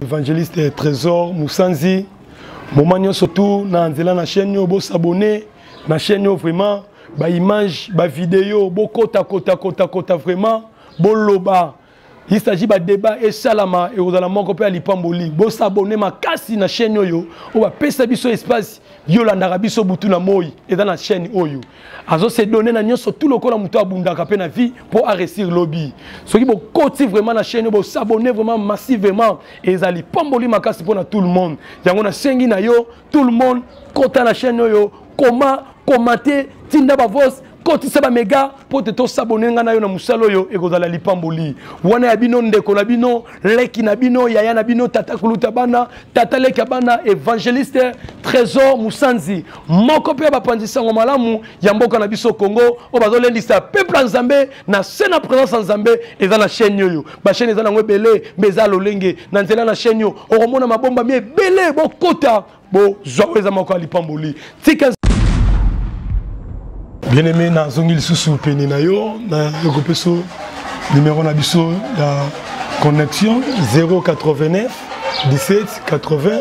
Evangeliste Trésor Moussanzi moment nyonso tu na nzela na chaîne oyo bosabone na chaîne oyo vraiment baimage bavideo bokota kota kota kota vraiment boloba il s'agit badébat esalama ekozala moko mpe ya lipamboli bosabone makasi na chaîne oyo oyo bapesa biso espace yolandaka biso butu na moi eza na chaîne oyo azo se donner na nyonso tout lokola moto abundaka mpe na vie mpo aresir lobi soki bokoti vraiment na chaîne bosabonne vraiment massivement ezali pamboli makasi mpo na tout le monde yango nasengi na yo tout le monde kota na chaîne oyo koma komate tinda bavos kotisa bamega mpo te tosabone ngai na yo na mosala oyo ekozala lipamboli wana ya bino ndeko na bino leki na bino yaya na bino tata kuluta bana tata leki ya bana evangeliste trésor mosanzi moko mpe ya bapanzi nsango malamu ya mboka na biso congo oyo bazolendisa peuple ya nzambe na se na présence ya nzambe eza na chaîne oyo bachaîne eza nango ebele mpe eza lolenge na nzela na chaîne oyo okomona mabomba mi ebele bokota bozwa oyo eza moko ya lipamboli tika bien aimé nazongi lisusu pene na yo nakopeso numero na biso ya connexion 089 17 80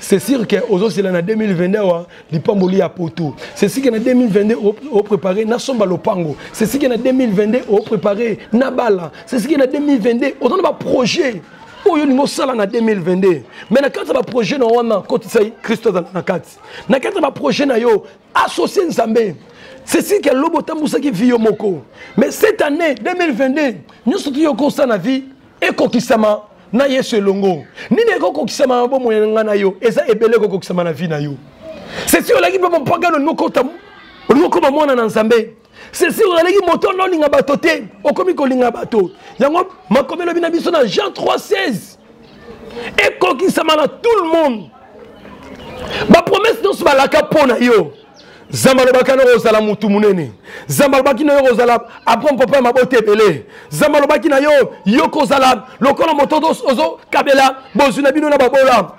c'est sûr que ozozela na 2022 awa lipamboli ya poto c'est sûr que na 2022 oprépare nasomba lopango c'est sûr que na 2022 oprépare na bala c'est sûr que na 2022 oza na baprojet oyo olingi osala na 2022 mais na kati ya baprojet na wana kotisa kristo azala na kati na kati ya baprojet na yo associe nzambe c'est sûr que lobo otambusaki vie yo moko mais cette année 2022 nyonso toyokosala na vie ekokisama na yesu elongo nini ekokokisama na bomoi na ngai na yo eza ebele ekokokisama na vi na yo sesi olaki mpe mopagano olingi okota olingi okoma mwana na nzambe sesi ozalaki moto na olinga bato te okomi kolinga bato yango makomi elobi na biso na jean 316 ekokisama na tout le monde bapromese nyonso balaka mpo na yo nzambe alobaki na yo kozala motu monene nzambe alobaki na yo kozala abraham papa ya mabota ebele nzambe alobaki na yo yo kozala lokola moto ozokabela bozwi na bino na babola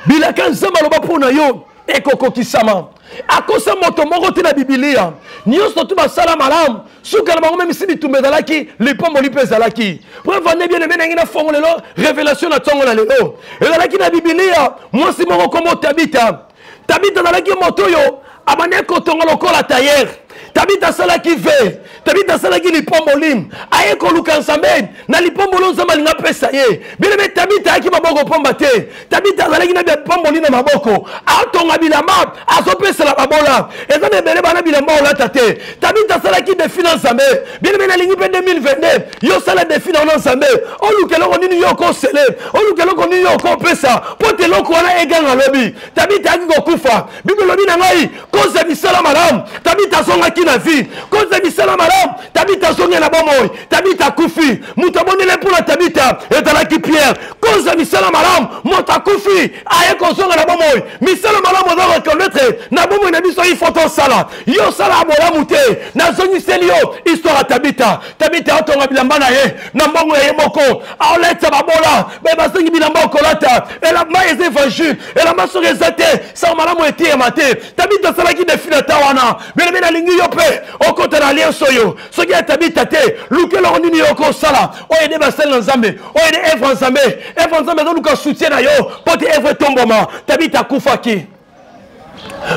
bilaka nzambe aloba mpo na yo ekokokisama akosa moto moko te na bibilia nyonso tu basala malamu suka na bango memisi bitumba ezalaki lipamboli mpe ezalaki mpo evande bien eme nangi na fongo lelo révélation na ntongo na lelo ezalaki na bibilia mwasi moko nkombo tabita tabita azalaki moto oyo abandaki kotonga lokola tayere tabita asalaki ve tabita asalaki lipomboli aye koluka nzambe na lipomboli nzambe alingi apesa ye bilebe tabita ayaki maboko mpamba te tabita azalaki na bipomboli na maboko atonga bilamba azopesela babola eza na ebele bana bilamba olata te tabita asalaki defi na nzambe bien aime nalingi mpe 2022 yo osala defi na yo na nzambe oluka eloko nini yo okosele oluka eloko nini yo okopesa mpo te eloko wana eganga lobi tabita ayaki kokufa biblia elobi na ngai koza misala malamu tabita azongaki na vie koza misala malamu tabita azongi na bomoi tabita akufi moto abondele mpo na tabita ezalaki pierre koza misala malamu moto akufi aye kozonga na bomoi misala malamu oza reconnaître na bomoi na biso ifo tosala yo osalaka bolamu te nazongiseli yo histoire ya tabita tabita atonga bilamba na ye na mbongo ya ye moko aolatisa babola baye basengi bilamba okolata elamba eza evangile elamba soki eza te sango malamu eteyema te tabita asalaki defi na ta wana belebe nalingi yo mpe okota na lienso oyo soki ya tabita te luka eloko nini yo okosala oyo ede basali na nzambe oyo ede evre nzambe evre nzambe ezoluka soutien na yo mpo te evre etombwama tabita akufaki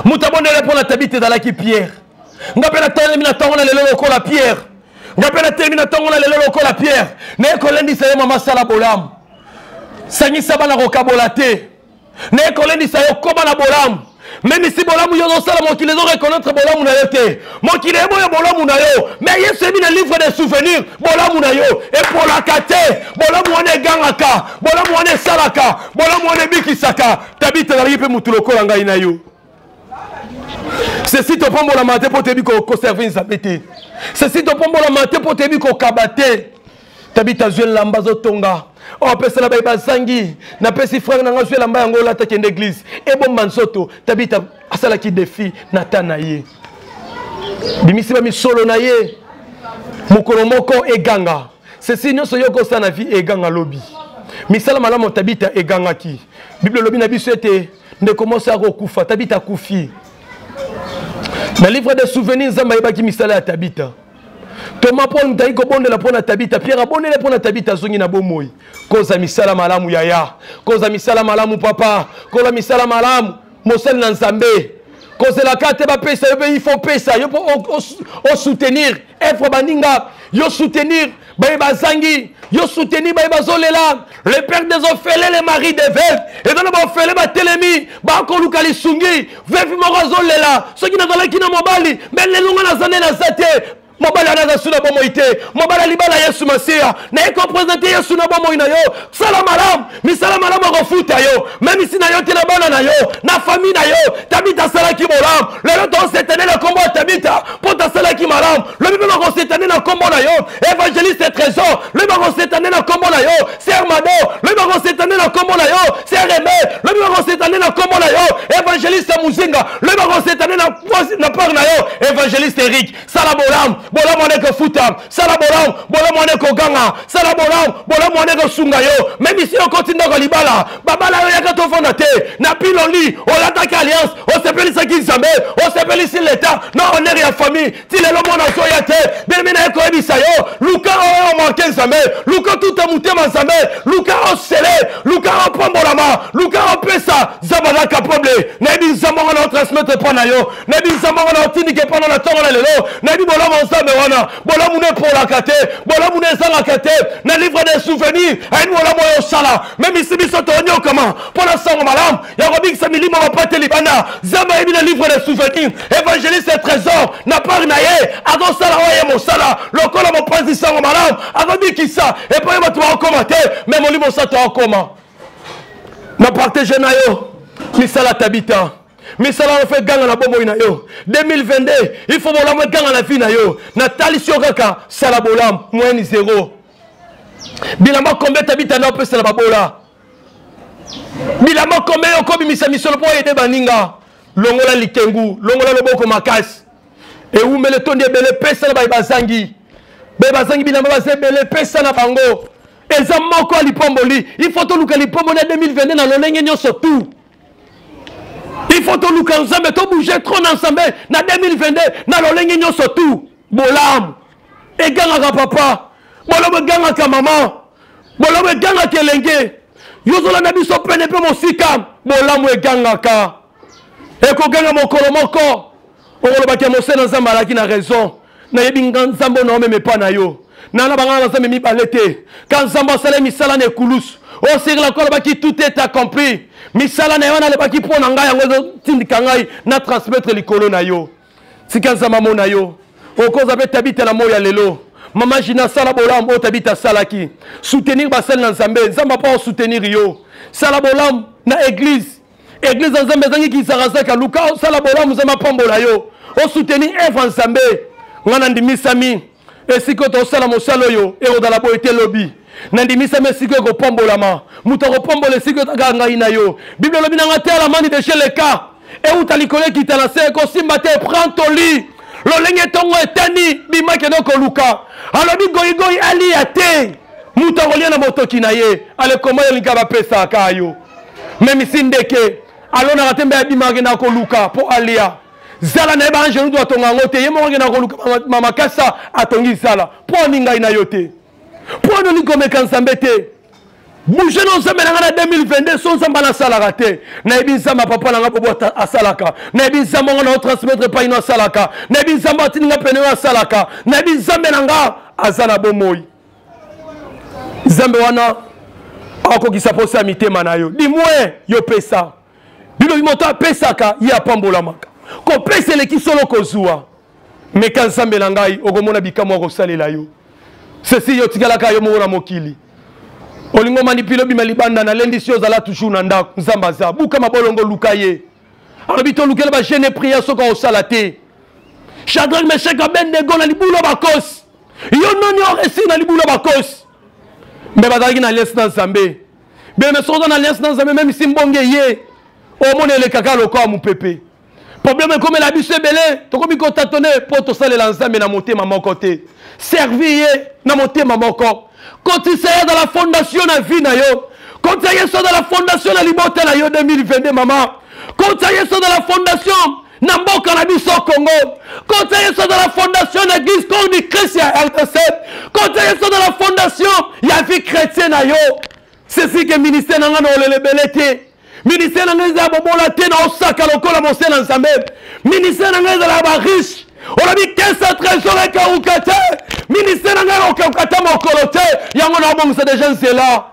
moto abondelaki mpo na tabita ezalaki pierre nga mpe natelemi na ntongo na lelo lokola pierre nga mpe natelemi na ntongo na lelo lokola pierre naye kolendisa ye mama sala bolamu sangisa bana kokabola te naye kolendisa yo koma na bolamu meme si bolamu yo ozosala mokili ezo reconnaître bolamu na yo te mokili eboya bolamu na yo mais yesu eyebi na livre de souvenir bolamu na yo epolaka te bolamu wana egangaka bolamu wana esalaka bolamu wana ebikisaka tabita azalaki mpe motu lokola ngai na yo sesi topambolama te mpo toyebi koserve nzambe te sesi topambolama te mpo toyebi kokaba te tabita azwi elamba azotonga opesela oh, baye bazangi napesi frere na ngai azwi elamba yango olata kende eglize ebomba nzoto tabita asalaki defi na ta na ye bimisi bamisolo na ye mokolo moko eganga sesi nyonso yo okosala na vie eganga lobi misala malamu tabita egangaki bible elobi na biso ete ndeko mwasi akokufa tabita akufi na livre de souvenir nzambe ayebaki misala ya tabita toma paul mutaki kobondela mpo na tabita pierre abondele mpo na tabita azongi na bomoi koza misala malamu yaya koza misala malamu papa kola misala malamu mosali na nzambe kozelaka te bapesa yo mpe il faut pesa yo mpo osoutenir efre baninga yo soutenir baye bazangi yo soutenir baye bazolela le père des ofele le mari de veuve eza na baofele batelemi bakoluka lisungi vevi moko azolela soki nazalaki na mobali me lelo nga naza nde naza te mobali wana aza su na bomoi te mobali alibala yesu masiya naye kopresente yesu na bomoi na yo sala malamu misala malamu akofuta yo memisi na yo te na bana na yo na fami na yo tabita asalaki bolamu lelo tosetane na nkombo ya tabita mpo tasalaki malamu lobi mpe bakosetane na nkombo na yo evangeliste trésor lobi bakosetane na nkombo na yo ser mado lobi bakosetane na nkombo na yo ser eme lobi bakosetane na nkombo na yo evangeliste muzinga lobi bakosetane na part na yo evangeliste erik sala bolamu bolamu wana ekofuta sala bolamu bolamu wana ekoganga sala bolamu bolamu wana ekosunga yo meme si okoti ndako ya libala babala yo yaka tofanda te na piloli olataki alliance osepelisaki nzambe osepelisi leta na honere ya famille ti lelo mwana azoya te bemi na ye koyebisa yo luka oyo omarke nzambe luka tuta motema nzambe luka osele luka opambolama luka opesa nzambe aza capable nayebi nzambe yango na otransmettre mpo na yo nayebisa moko na otindika epana na ntongo na lelo nayebi bolamu ya nzambe wana bolamu na epolaka te bolamu na ezangaka te na livre de souvenir ayebi bolamu oyo osala memisi biso tonyokama mpo na sango malamu ya kobikisa milimo bapate libanda nzambe ayebi na livre de souvenir évangéliste trésor na pari na ye akosala oyo ye mosala lokola mopanzi sango malamu akobikisa epai bato bakokoma te me molimo osato akoma na partage na yo misala tabita misala yo fe ganga na bomoi na yo 2022 il faut bolamu eganga na vie na yo natalisi yo kaka sala bolamu moyeni zero bilamba kombe tabitanda opesa na babola bilamba kombe yo kobimisa misolo mpo oyede baninga longola likengu longola loboko makasi ewumela etondi ebele pesa na baye bazangi baye bazangi bilamba baza ebele pesa na bango eza moko ya lipomboli il faut toluka lipomboli ya 2022 na lolenge nyonso tout il faut toluka nzambe tobouge trop na nzambe na 2022 na lolenge nyonso tu bolamu egangaka papa bolobo egangaka mama bolobo egangaka elenge yozolanda biso pene mpe mosika bolamu egangaka ekoganga mokolo moko okoloba ke mosena nzambe alaki na raison nayebi nga nzambe ona omeme epa na yo nana bangana na nzambe mibale te ka nzambe asala misala na ekulusu osekela ko alobaki tout est accompli misala na ye wana alobaki mpo na ngai yango ezotindika ngai na transmettre likolo na yo tika nzambe amona yo okoza mpe tabita na moi ya lelo mama jina asala bolamu oyo tabita asalaki soutenir basali na nzambe nzambe mpo osoutenir yo sala bolamu na eglise eglize ya nzambe ezangi kizakazaka luka osala bolamu nzambe apambola yo osuteni eve ya nzambe ngai nandimisami esika oyo tosala mosala oyo ekozala boye te lobi nandimisami esika oyo ekopambolama moto akopambola esika oyo taka ngai na yo biblia elobi na ngai te alamani deshe leka euta likolo ekita na se ekosimba te prend toli lolenge ntongo etani bimakende okoluka alobi goigoi aliya te moto akolia na motoki na ye alekoma yo lingi bapesaka yo memisi ndeke alonaka te mbe abimaka akendaka koluka mpo alia zala na ye baangelu to atonga yango te ye moko akendaka koluka mamakasa atongi zala mpo ani ngai na yo te mpo ani olingi komeka nzambe te bouge na nzambe na ngai na 2022 so nzambe nasalaka te nayebi nzambe ya papa na ngai bobo asalaka nayebi nzambe yango na otransmettre epai no asalaka nayebi nzambe atindi ngai pene oyo asalaka nayebi nzambe na ngai aza na bomoi nzambe wana akokisa mposa ya mitema na yo dimwe yo pesa bilobi moto apesaka ye apambolamaka kopesa eleki solo kozwa meka nzambe na ngai okomona bikamwa akosalela yo sesi yo tikalaka yo moko na mokili olingo manipile obima libanda nalendisi yo ozala toujours na ndako nzambe aza buka mabolongo luka ye alobi tolukela bagene priere soki akosala te chadrak meshek abendego na libulu ya bakosi yo nani oresi na libulu ya bakosi mbe bazalaki na alliance na nzambe beme soki oza na alliance na nzambe meme si mbonge ye omona elekaka lokola mopepe probleme ekomela biso ebele tokomi kotatone mpo tosalela nzambe na motema moko te servi ye na motema moko kotisa ye azala fondation na vie na yo kotisa yesu azala fondation na libota na yo 2022 mama kotisa yesu azala fondation na mboka na biso congo kota yesu azala fondation na eglise koni krist ya rdc kota yesu azala fondation ya vie chrétien na yo sesike ministère na ngai na olelebele te ministère na ngai ezala bobola te na osaka lokola mose na nzambe ministère na ngai ezalaka bariche olobi kesa trésor ekauka te ministère na ngai okauka te mokolo te yango naobongisa deja nzela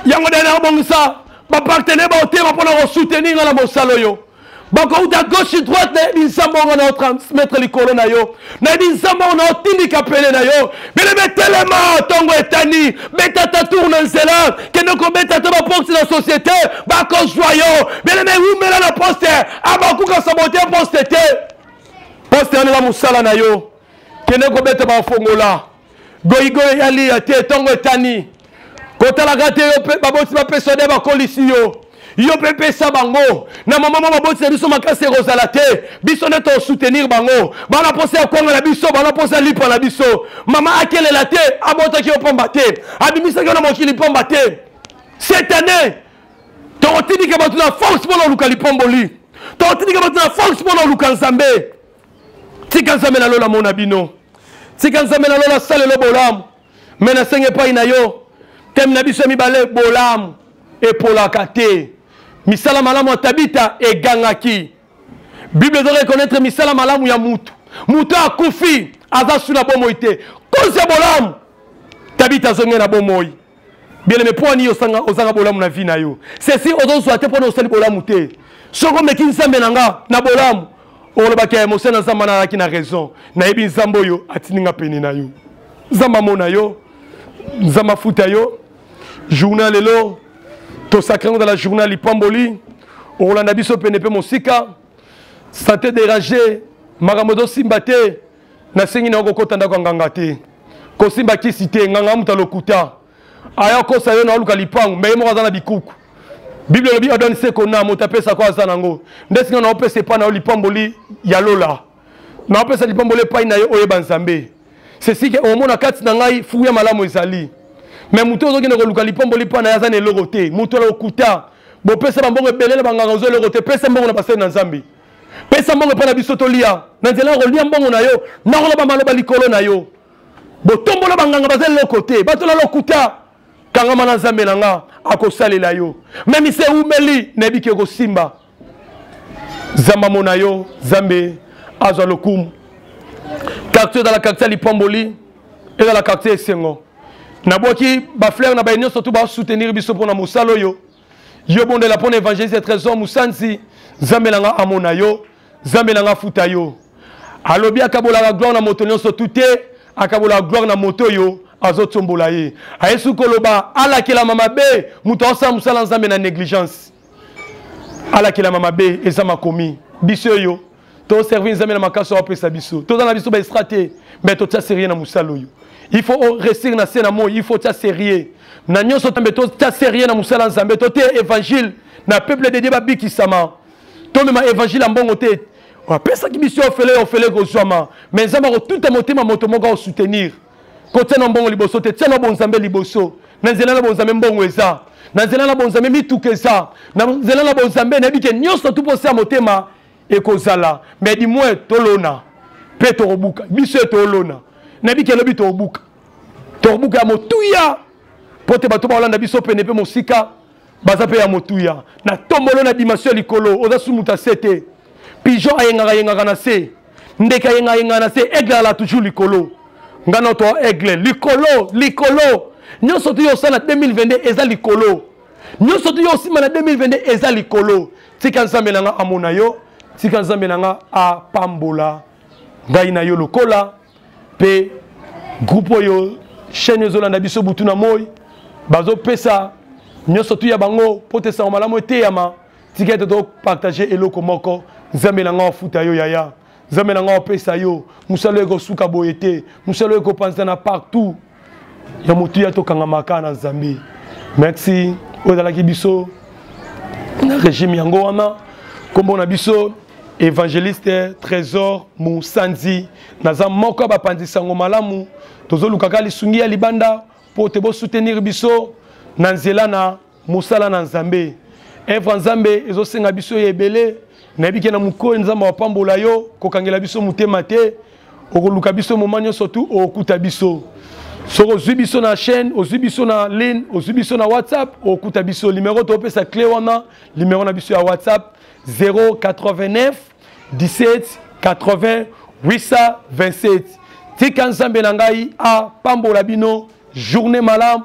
yango nde naobongisa bapartenere baotema mpo na kosoutenir ngai na mosala oyo bakouta gauche droite nayebi nzambe yango na otransmettre likolo na yo nayebi nzambe yango na otindika pene na yo bino betelema ntongo etani beta ta tour na nzela kende kobeta ta baporte na société bakozwa yo bino bewumela na poste abakuka sabote poste te poste yanela mosala na yo kende kobeta bafongola goyigoyi ya liya te ntongo etani kotalaka te yo mpe baboti bapesa nde bakolisi yo yo mpe pesa bango na mama mwa baboti na biso makasi ekozala te biso nde tosoutenir bango bana mposa ya kwanga na biso bana mposa ya lipa na biso mama akelela te abotaki yo mpamba te abimisaki yo na mokili mpamba te cette année tokotindika bato na force mpo na oluka lipomboli tokotindika bato na force mpo na oluka nzambe tika nzambe na lola mona bino tika nzambe na lola asalelo bolamu me nasengi epai na yo teme na biso ya mibale bolamu epolaka te misala malamu ya tabita egangaki bible ezo reconnaître misala malamu ya mutu mutu akufi aza su na bomoi te kozi ya bolamu tabita azongi na bomoi bien aimé mpo ani osanga ozanga bolamu na vie na yo ceci ozozwa te mpona osali bolamu te soko omeki nzambe na nga na bolamu olobaki ya mosali na nzambe ana alaki na raison nayebi nzambe oyo atindi nga pene na yo nzambe amona yo nzambe afuta yo journal lelo tosakre yango zala journal lipamboli okolanda biso pene mpe mosika sante derage makambo ezosimba te nasengi nayo kokota ndako ya nganga te kosimba kisi te nganga moto alokuta aya kosa yo naoluka lipangu mbe ye moko aza na bikuku biblia elobi adani seko na moto apesa ko aza nango nde singa naopesa epai na yo lipamboli ya lola naopesa lipamboli epai na yo oyeba nzambe sesike omona kati na ngai fuu ya malamu ezali me moto ozokende koluka lipamboli epai na ye aza na eloko te moto alokuta bopesa bambongo ebele na banganga ozo eloko te pesa mbongo na basali na nzambe pesa mbongo epai na biso tolia na nzela ya kolia mbongo na yo nakoloba maloba likolo na yo botombola banganga baza eloko te bato na lokuta kangama na nzambe na nga akosalela yo meme se eumeli nayebi ke ekosimba zamba mona yo zambe azwa lokumu quartier ezala quartier ya lipamboli ezala quartier esengo nabwaki baflere na baye nyonso to basoutenir biso mpo na mosala oyo yo bondela mpo na evangeliste trésor mosansi nzambe na nga amona yo nzambe na nga afuta yo alobi akabolaka gloire na moto nyonso tu te akabolaka gloire na moto oyo azotsombola ye ayesu koloba alakelama mabe moto aosala mosala nzambe na négligence alakelama mabe eza makomi biso oyo To servir Nzambe na makasi oyo apesa biso. Toza na biso ba estra te, mais to tia sérieux na musala oyo. Il faut réussir na se na moi, il faut tia sérieux. Na nyonso tambe to tia sérieux na musala Nzambe, to te évangile na peuple de Dieu ba bikisama. To mema évangile ya mbongo te. Apesaki biso ofele ofele kozwama, mais Nzambe akotuta motema moto moko soutenir. Kotia na mbongo liboso te, tia na bonzambe liboso. Na nzela na bonzambe mbongo eza. na nzela na bonzambe mituka eza na nzela na bonzambe nayebi ke nyonso tu mposa ya motema ekozala mais du moins tolona mpe tokobuka biso ye tolona na biki elobi tokobuka tokobuka ya motuya mpo te bato baolanda biso pene mpe mosika baza mpe ya motuya na tombolo na dimension ya likolo oza sumuta se te pigeon ayengaka yengaka na se ndeke ayengaka yengaka na se aigle ala toujours likolo ngai na to aigle likolo likolo nyonso tu yo osala 2022 eza likolo nyonso tu yo osimba na 2022 eza likolo tika nzambe na nga amona yo tika nzambe na nga apambola ngai na yo lokola mpe groupe oyo chaîne ezolanda biso butu na moi bazopesa nyonso tu ya bango mpo te sango malamu eteyama tika ete topartage eloko moko nzambe na ngai afuta yo yaya nzambe na ngai opesa yo mosala ekosuka boye te mosala oyo ekopanzana partout ya motuya tokangamaka na nzambe merci oyo ezalaki biso na régime yango wana nkombo na biso évangéliste trésor mosanzi naza moko ya bapanzi sango malamu tozolukaka lisungi ya libanda mpo te bosoutenir biso na nzela na mosala na nzambe evre ya nzambe ezosenga biso ya ebele nayebi ke na mokoli nzambe apambola yo kokangela biso motema te okoluka biso moma nyonso tu okokuta biso soki ozwi biso na chaîne ozwi biso na line ozwi biso na whatsapp okokuta biso limero topesa cle wana limero na biso ya whatsapp 089 17 80 827 tika nzambe na ngai apambola bino journée malamu